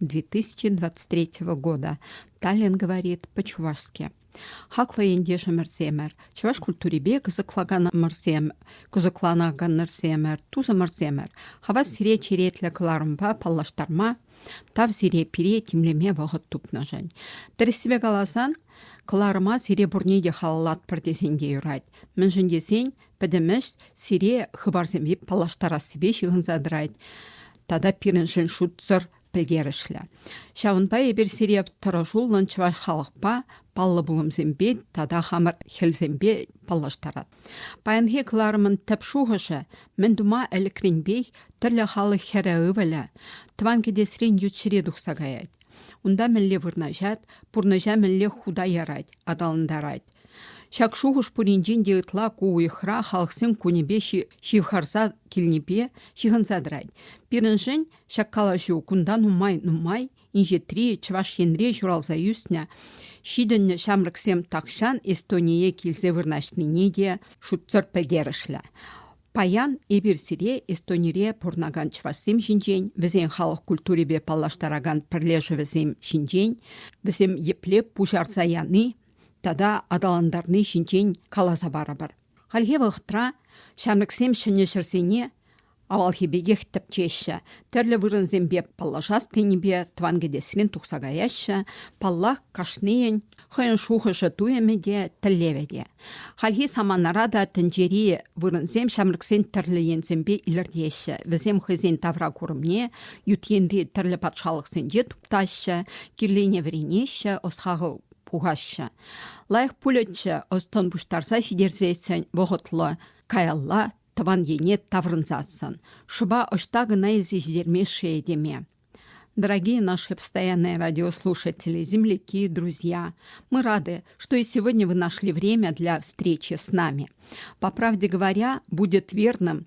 2023 года, Таллин говорит по-чувашски. Хаклӑ ентешӗмӗрсемӗр, чӑваш культурипе кӑсӑкланаканӑрсем, кӑсӑкланаканӑрсемӗр, тусӑмӑрсемӗр, хавас сире черетлӗ кӑларӑмпа паллаштарма, тав сире пире тимлеме вӑхӑт тупнӑшӑн. Тӗрӗссипе каласан, кӑларӑма сире пурне те халаллатпӑр тесен те юрать, мӗншӗн тесен Пӗтӗм ӗҫ сире хыпарсемпе паллаштарассипе ҫыхӑнса тӑрать тата пирӗншӗн шутсӑр пӗлтерӗшлӗ. Ҫавӑнпа эпир сире тӑрӑшуллӑн чӑваш халӑхпа паллӑ пулӑмсемпе тата хамӑр хӗлсемпе паллаштарат. Паянхи кӑларӑмӑн тӗп шухӑшӗ мӗн тума ӗлӗкренпех тӗрлӗ халӑх хӗрӗ ывӑлӗ тӑван кӗтесрен ют ҫӗре тухса каять. Унта мӗнле вырнаҫать, пурнӑҫа мӗнле хута ярать, аталантарать. Ҫак шухӑш пуринчен те ытла ку уйӑхра халӑхсем кунӗпе ҫывхарса килнипе ҫыхӑнса тӑрать. Пирӗншӗн ҫак калаҫу кунта нумай-нумай инҫетри Чӑваш Енре ҫуралса ӳснӗ ҫитӗннӗ ҫамрӑксем тахҫан Эстоние килсе вырнаҫнине те шутсӑр пӗлтерӗшлӗ. Паян эпир сире Эстонире пурӑнакан чӑвашсем ҫинчен, вӗсен халӑх культурипе паллаштаракан пӗрлешӗвӗсем ҫинчен, вӗсем епле пуҫарса яни тата аталантарни ҫинчен каласа парӑпӑр. Хальхи вӑхӑтра ҫамрӑксем ҫӗнӗ ҫӗрсене авалхи пекех тӗпчеҫҫӗ, тӗрлӗ вырӑнсемпе паллашас тенипе тӑван кӗтесрен тухса каяҫҫӗ. Паллах, кашнийӗн хӑйӗн шухӑшӗ-туйӑмӗ те, тӗллевӗ те. Хальхи саманара та тӗнчери вырӑнсем ҫамрӑксен тӗрлӗ енсемпе илӗртеҫҫӗ. Вӗсем хӑйсен тавра курӑмне ют енри тӗрлӗ патшалӑхсенче туптаҫҫӗ, кирлене вӗренеҫҫӗ, ӑс-хакӑл пухаҫҫӗ. Лайӑх пулӗччӗ ӑс-тӑн пуҫтарса ҫитерсессӗн вӑхӑтлӑ каялла тӑван ене таврӑнсассӑн. Шӑпа ӑҫта кӑна илсе ҫитермест-ши этеме. Дорогие наши постоянные радиослушатели, земляки, друзья, мы рады, что и сегодня вы нашли время для встречи с нами. По правде говоря, будет верным,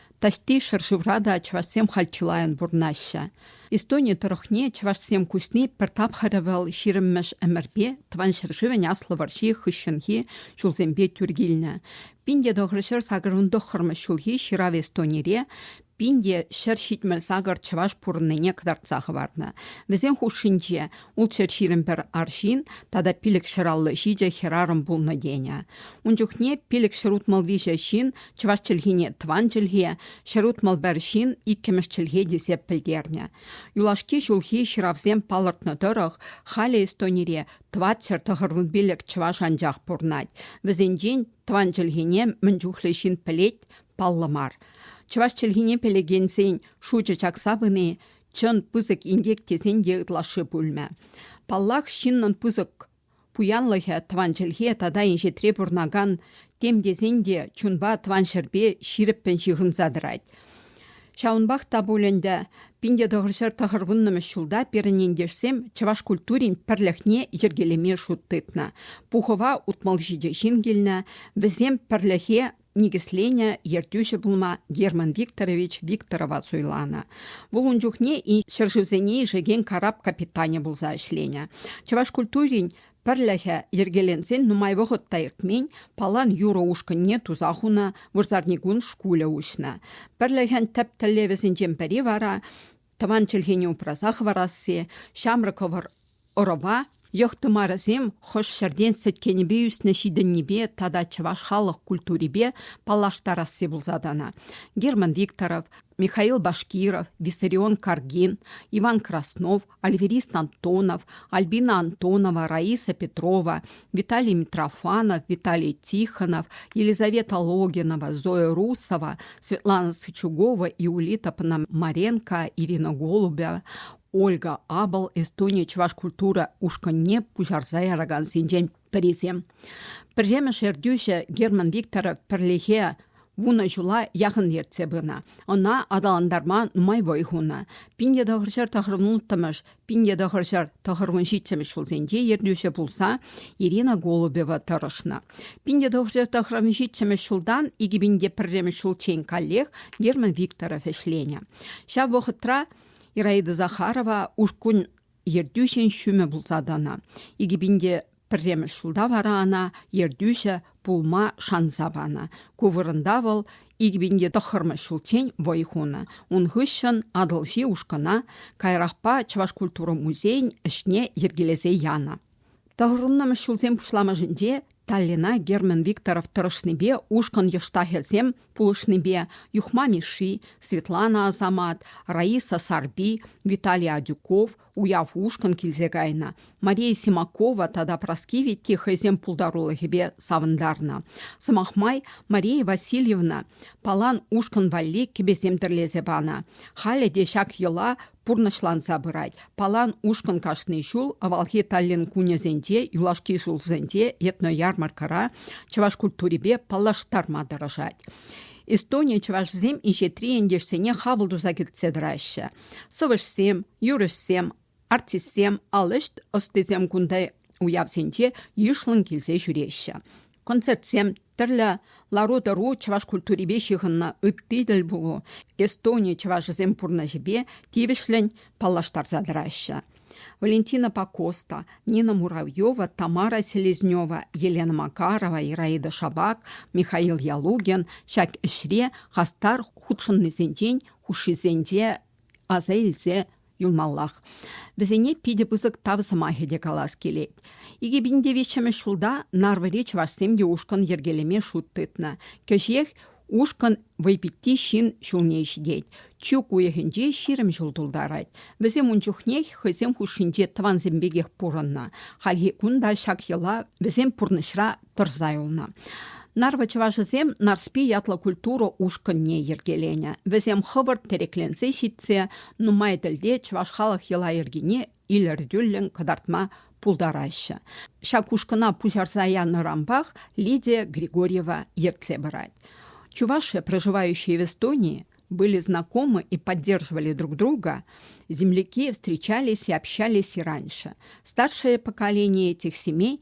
Таҫти ҫӗршывра та чӑвашсем халь чылайӑн пурӑнаҫҫӗ. Эстони тӑрӑхне чӑвашсем куҫни пӗр тапхӑрӗ вӑл ҫирӗммӗш ӗмӗрпе тӑван ҫӗршывӗн Аслӑ вӑрҫи хыҫҫӑнхи ҫулсемпе тӳр килнӗ. Пин те тӑхӑрҫӗр сакӑр вун тӑххӑрмӗш ҫулхи ҫырав Эстонире пин те ҫӗр ҫитмӗл сакӑр чӑваш пурӑннине кӑтартса хӑварнӑ. Вӗсен хушшинче Ултҫӗр ҫирӗм пӗр арҫын тата пилӗк ҫӗраллӑ ҫичӗ хӗрарӑм пулнӑ тенӗ. Ун чухне пилӗк ҫӗрутмӑл виҫӗ ҫын чӑваш чӗлхине тӑван чӗлхе, ҫӗрутмӑл пӗр ҫын иккӗмӗш чӗлхе тесе пӗлтернӗ. Юлашки ҫулхи ҫыравсем палӑртнӑ тӑрӑх халӗ Эстонире тӑватҫӗр тӑхӑрвун пилӗк чӑваш анчах пурӑнать. Вӗсенчен тӑван чӗлхене мӗн чухлӗ ҫын пӗлет паллӑ мар. Чӑваш чӗлхине пӗлекенсен шучӗ чакса пыни Чӑн пысӑк инкек тесен те ытлашши пулмӗ. Паллах, ҫыннӑн пысӑк пуянлӑхӗ тӑван чӗлхе тата инҫетре пурӑнакан тем тесен те чунпа тӑван ҫӗрпе ҫирӗппӗн ҫыхӑнса тӑрать. Ҫавӑнпах та пуль ӗнтӗ пин тӑхӑрҫӗр тӑхӑрвуннӑмӗш ҫулта пирӗн ентешсем чӑваш культурин пӗрлӗхне йӗркелеме шут тытнӑ. Пухӑва утмӑл ҫичӗ ҫын килнӗ. Вӗсем пӗрлӗхе никӗсленӗ ертӳҫӗ пулма Герман Викторович Викторова суйланӑ. Вӑл ун чухне ҫӗршывсене ишекен карап капитанӗ пулса ӗҫленӗ. Чӑваш культурин пӗрлӗхӗ йӗркеленсен нумай вӑхӑт та иртмен палан юрӑ ушкӑнне туса хунӑ вырсарникун шкулӗ уҫнӑ. Пӗрлӗхӗн тӗп тӗллевӗсенчен пӗри вара тӑван чӗлхене упраса хӑварасси, ҫамрӑк хӑвӑр Ӑрӑва йӑх тымарӗсем хӑш ҫӗртен сӗткенӗпе ӳснӗ ҫитӗннипе тата чӑваш халӑх культурипе паллаштарасси пулса тӑнӑ. Герман Викторов, Михаил Башкиров, Виссарион Каргин, Иван Краснов, Альверист Антонов, Альбина Антонова, Раиса Петрова, Виталий Митрофанов, Виталий Тихонов, Елизавета Логинова, Зоя Русова, Светлана Сычугова и Улита Пономаренко, Ирина Голубева, Ольга Абл Эстони чӑваш культура ушкӑнне пуҫарса яракансенчен пӗрисем. Пӗрремӗш ертӳҫӗ Герман Викторов пӗрлехе вунӑ ҫула яхӑн ертсе пынӑ. Ӑна аталантарма нумай вӑй хунӑ. Пинте тӑхӑрҫӗр тӑхӑрмун улттӑмӗш, пинте тӑхӑрҫӗр тӑхӑрмун ҫиччӗмӗш ҫулсенче ертӳҫӗ пулса Ирина Голубева тӑрӑшнӑ. Пинте тӑхӑрҫӗр тӑхӑрмун ҫиччӗмӗш ҫултан икӗ пинте пӗрремӗш ҫулччен каллех Герман Викторов ӗҫленӗ. Ҫав вӑхӑтра Ираида Захарова ушкун ертӳҫин ҫумӗ пулса тӑнӑ. Икӗ пинте пӗрремӗш ҫулта вара ӑна ертӳҫӗ пулма шанса панӑ. Ку вырӑнта вӑл икӗ пинте тӑххӑрмӗш ҫулччен вӑй хунӑ. Ун хыҫҫӑн Атӑлҫи ушкӑна каярахпа Чӑваш культура музейӗн ӗҫне йӗркелесе янӑ. Тӑхӑрӑннӑмӗш ҫулсен пуҫламӑшӗнче Таллина Герман Викторов тӑрӑшнипе ушкӑн йӑштахӗсем пулӑшнипе Юхма Мишши, Светлана Асамат, Раиса Сарпи, Виталий Адюков уяв ушкӑн килсе кайнӑ. Мария Симакова тата Праскивитти хӑйсен пултарулӑхӗпе савӑнтарнӑ. Сӑмах май, Мария Васильевна палан ушкӑн валли кӗпесем тӗрлесе панӑ. Халӗ те ҫак йӑла пурнӑҫланса пырать. Палан ушкӑн кашни ҫул авалхи Таллин кунӗсенче, юлашки ҫулсенче этноярмаркӑра чӑваш культурипе паллаштарма тӑрӑшать. Эстони чӑвашсем инҫетри ентешсене хапӑл туса кӗртсе тӑраҫҫӗ. Сӑвӑҫсем, юрӑҫсем, артистсем, ал ӗҫ ӑстисем кунта уявсенче йышлӑн килсе ҫӳреҫҫӗ. Концертсем Тӗрлӗ лару-тӑру чӑваш культурипе ҫыхӑннӑ ытти тӗл пулу Эстони чӑвашӗсем пурнӑҫӗпе тивӗҫлӗн паллаштарса тӑраҫҫӗ. Валентина Пакоста, Нина Муравьева, Тамара Селезнева, Елена Макарова, Ираида Шабак, Михаил Ялугин ҫак ӗҫре хастар хутшӑннисенчен хушшисенче аса илсе юлмаллах. Вӗсене питӗ пысӑк тав сӑмахӗ те калас килет. 2009 ҫулта Нарвӑри чӑвашсем те ушкӑн йӗркелеме шут тытнӑ. Кӗҫех ушкӑн вӑйпитти ҫын ҫулне ҫитет. Чӳк уйӑхӗнче ҫирӗм ҫул тултарать. Вӗсем ун чухнех хӑйсем хушшинче тӑвансем пекех пурӑннӑ. Хальхи кун та ҫак йӑла вӗсем пурнӑҫра тӑрса юлнӑ. Нарвӑ чӑвашӗсем Нарспи ятлӑ культура ушкӑнне йӗркеленӗ. Вӗсем хӑвӑрт тӗрекленсе ҫитсе нумай тӗлте чӑваш халӑх йӑла-йӗркине илӗртӳллӗн кӑтартма пултараҫҫӗ. Ҫак ушкӑна пуҫарса янӑранпах Лидия Григорьева ертсе пырать. Чувашия, проживающие в Эстонии, были знакомы и поддерживали друг друга. Земляки встречались и общались и раньше. Старшее поколение этих семей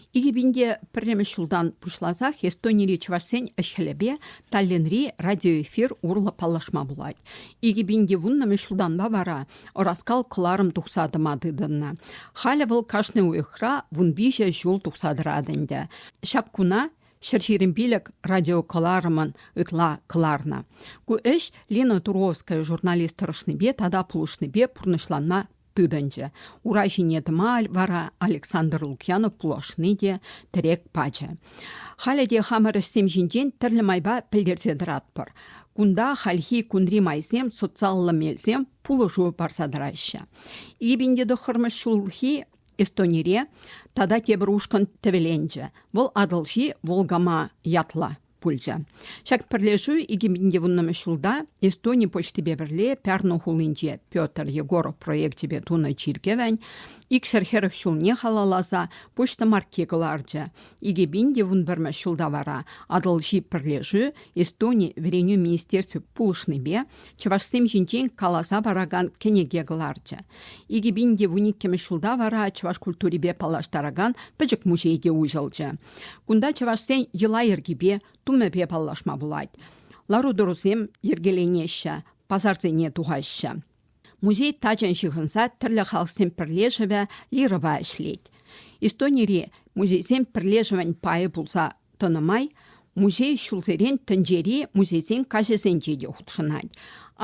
2001 ҫултан пуҫласах Эстонири чӑвашсен ӗҫ-хӗлӗпе Таллинри радиоэфир урлӑ паллашма пулать. 2000 ҫултанпа вара ӑраскал кӑларӑм тухса тӑма тытӑннӑ. Халӗ вӑл кашни уйӑхра вун виҫӗ ҫул тухса тӑрать ӗнтӗ. Ҫак куна ҫӗр ҫирӗм пилӗк радиокӑларӑмӑн ытла кӑларнӑ. Ку ӗҫ Лина Туровская журналист тӑрӑшнипе тата пулӑшнипе пурнӑҫланма тытӑнчӗ. Ура ҫине тӑма вара Александр Лукьянов пулӑшни те тӗрек пачӗ. Халӗ те хамӑр ӗҫсем ҫинчен тӗрлӗ майпа пӗлтерсе тӑратпӑр. Кунта хальхи кунри майсем, социаллӑ мелсем пулӑшу парса тӑраҫҫӗ. Ибенде тӑххӑрмӗш ҫулхи Эстонире тата тепӗр ушкӑн тӗвӗленчӗ. Вӑл Атӑлҫи Волгама ятлӑ. пулчӗ. Ҫак пӗрлешӳ 2020 ҫулта Эстони почтипе пӗрле Пярну хулинче Петр Егоров проекчӗпе тунӑ чиркӗвӗн икҫӗр хӗрӗх ҫулне халалласа почта марки кӑларчӗ. Икӗ пин те вун пӗрмӗш ҫулта вара Атӑлҫи пӗрлешӳ Эстони вӗренӳ министерстви пулӑшнипе чӑвашсем ҫинчен каласа паракан кӗнеке кӑларчӗ. Икӗ пин те вун иккӗмӗш ҫулта вара чӑваш культурипе паллаштаракан пӗчӗк музей те уҫӑлчӗ. Кунта чӑвашсен йӑла-йӗркипе, тумӗпе паллашма пулать. Лару-тӑрусем йӗркеленеҫҫӗ, пасарсене тухаҫҫӗ. Музей тачан ҫыхӑнса тӗрлӗ халӑхсен пӗрлешӗвӗ Лирӑва ӗҫлет. Истонири музейсем пӗрлешӗвӗн пайӗ пулса тӑнӑ май музей ҫулсерен тӗнчери музейсен каҫӗсенче те хутшӑнать.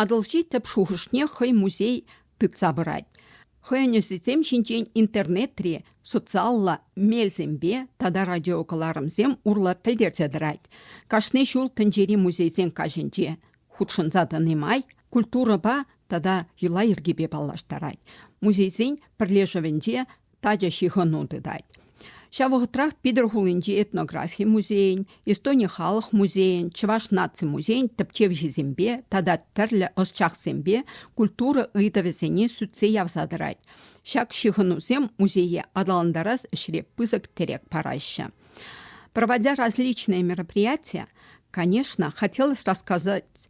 Атӑлҫи тӗп шухӑшне хӑй музей тытса пырать. Хӑйӗн ӗҫӗсем ҫинчен интернетри социаллӑ мелсемпе тата радиокӑларӑмсем урлӑ пӗлтерсе тӑрать. Кашни ҫул тӗнчери музейсен каҫӗнче хутшӑнса тӑни май культурӑпа тата йӑла-йӗркепе паллаштарать. Музейсен пӗрлешӗвӗнче тачӑ ҫыхӑну тытать. Ҫав вӑхӑтрах Питӗр хулинчи этнографи музейӗн, Эстони халӑх музейӗн, Чӑваш наци музейӗн тӗпчевҫисемпе тата тӗрлӗ ӑсчахсемпе культура ыйтӑвӗсене сӳтсе явса тӑрать. Ҫак ҫыхӑнусем музее аталантарас ӗҫре пысӑк тӗрек параҫҫӗ. Проводя различные мероприятия, конечно, хотелось рассказать